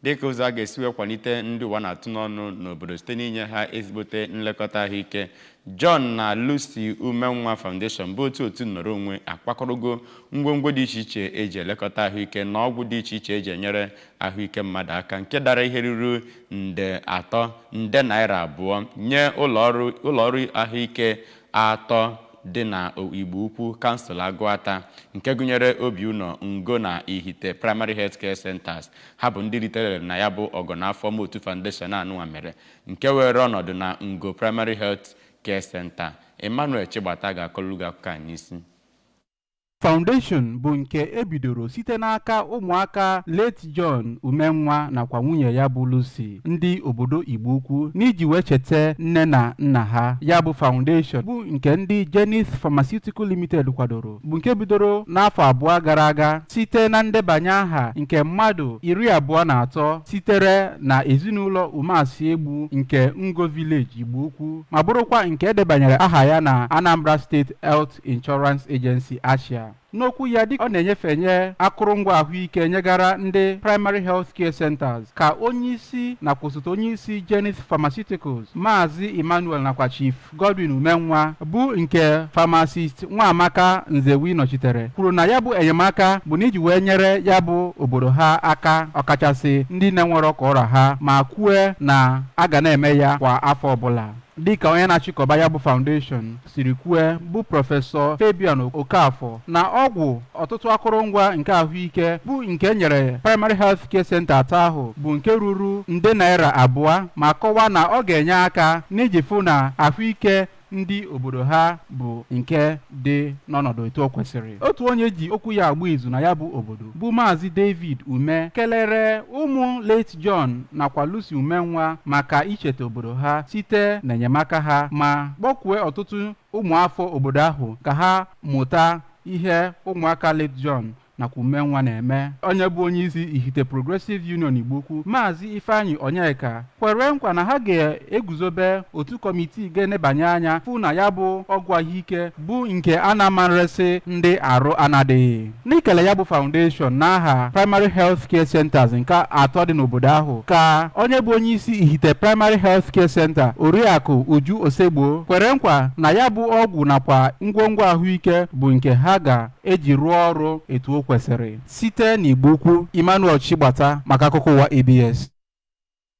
dịka ụzọ a ga-esi wee kwalite ndị ụwa na-atụ n'ọnụ n'obodo site n'inye ha ezigbote nlekọta ahụike John na Lucy Umenwa Foundation bụ otu otu nnọrọ onwe akpakọrọgo ngwongwo dị iche iche eji elekọta ahụike na ọgwụ dị iche iche eji enyere ahụike mmadụ aka nke dara ihe ruru nde atọ nde naira abụọ nye ụlọọrụ ahụike atọ dị na Igbo Ukwu kansụl Agụata nke gụnyere Obiụnọ Ngo na Ihite Primary Health Care Centers Ha bụ ndị ritere uru na ya bụ ọgọ na afọma otu Foundation anụnwa mere nke were ọnọdụ na Ngo Primary Health Care Center. Emmanuel Chigbata ga-akọlụ gị akụkọ a n'isi. Foundation bụ nke ebidoro site n'aka ụmụaka late John Umenwa nakwa nwunye ya bụ Lucy ndị obodo Igbo Ukwu n'iji wee cheta nne na nna ha. Ya bụ Foundation bụ nke ndị Geneith Pharmaceutical Limited kwadoro bụ nke bidoro n'afọ abụọ gara aga site na ndebanye aha nke mmadụ iri abụọ na atọ sitere na ezinụlọ Umeasi Egbu nke Ngo Village Igbo Ukwu ma bụrụkwa nke edebanyere aha ya na Anambra State Health Insurance Agency ASHIA n'okwu ya dịka ọ na-enyefenye akụrụngwa ahụike nyegara ndị primary health care centers ka onye isi nakwa osote onye isi Geneith Pharmaceuticals Maazị Emmanuel nakwa Chief Godwin Umenwa bụ nke Pharmacist Nwaamaka Nzewi nọchitere kwuru na ya bụ enyemaka bụ n'iji wee nyere ya bụ obodo ha aka ọkachasị ndị na-enwerọ ka ọ ra ha ma kwue na a ga na-eme ya kwa afọ ọbụla dịka onye na-achịkọba ya bụ foundation siri kwue bụ prọfesọ Fabian Okafor na ọgwụ ọtụtụ akụrụngwa nke ahụike bụ nke enyere primary health care center atọ ahụ bụ nke ruru nde naira abụọ ma kọwaa na ọ ga-enye aka n'iji fụ na ahụike ndị obodo ha bụ nke dị n'ọnọdụ etu o kwesịrị otu onye eji okwu ya agba izu na ya bụ obodo bụ maazị david ume kelere ụmụ late john nakwa lucy umenwa maka icheta obodo ha site n'enyemaka ha ma kpọkue ọtụtụ ụmụafọ obodo ahụ ka ha mụta ihe ụmụaka Late John nakwa Umenwa na-eme onye bụ onye isi Ihite Progressive Union Igbo Ukwu Maazị Ifeanyi Onyeka kwere nkwa na ha ga-eguzobe otu kọmitii ga-enebanye anya fụ na ya bụ ọgwụ ahụike bụ nke a na-amarịsị ndị arụ anadịghị n'ikele ya bụ foundation n'aha Primary Health Care Centers nke atọ dị n'obodo ahụ ka onye bụ onye isi Ihite Primary Health Care Center Oriakụ Uju Osegbo kwere nkwa na ya bụ ọgwụ nakwa ngwongwo ahụike bụ nke ha ga-eji rụọ ọrụ etu o kwesịrị site n'Igbo Ukwu Emmanuel Chigbata maka akụkọ ụwa ABS